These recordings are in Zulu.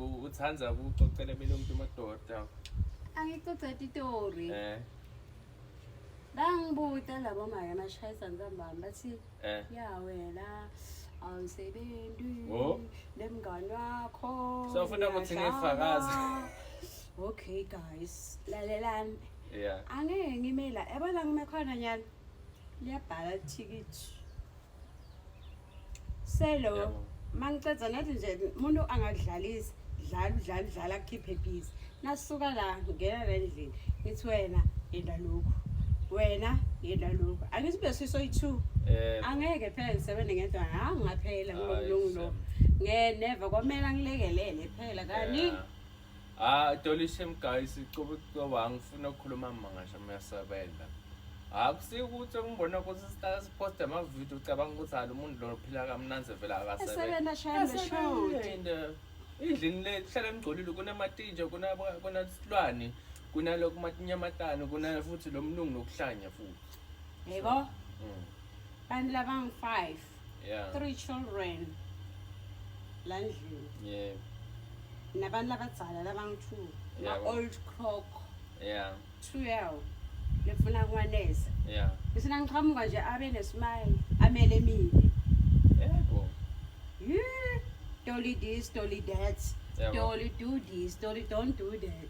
uthanda ukuxoxela mina umuntu madoda angixoxa itori eh bangibuta labo maya amashayisa ngizambami bathi eh. ya wena awusebenzi oh. nemngane wakho sofuna ukuthi ngifakaze okay guys lalelani yeah angeke ngimela yabona ngime khona nyana liyabhala ithikithi selo Yebo. mangicedza nathi nje umuntu angadlalisi dlala udlala udlala akhiphe busy nasuka la ngena la endlini ngithi wena yenda lokhu wena yenda lokhu angithi bese isoyi-two Eh, angeke phela ngisebenze ngedwa ha ngaphela Hayi, ngilomlungu lo Sam. nge never kwamele angilekelele phela kani yeah. Ah, Dolly Shem guys, icobo cobo angifuna ukukhuluma amanga shame yasebenza. Akusi ukuthi ngibona ukuthi sihlala sipost ama video ucabanga ukuthi hayi umuntu lo phila kamnanzi vela akasebenza. Esebenza shame shode. Idlini le hlala ngigcolile kunamatinje kuna kuna silwane kunalokhu matinyamatana kuna futhi lomlungu nokuhlanya futhi. Yebo. Mm. Kanti laba ngi 5. yeah. three children la ndlini yeah. nabantu labadzala labangu-two yeah. ma-old crock yeah. twelve lefuna kwaneza yeah. ngisina ngiqhamuka nje abe nesmile amele mina yebo yeah. toli this toli that yeah, toli do this toli don't do that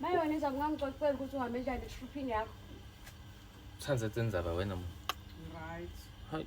Mayona iza kungangixoxela ukuthi uhambe njani eshuphini yakho. Thanda sendzaba wena mfo. Right. Hayi.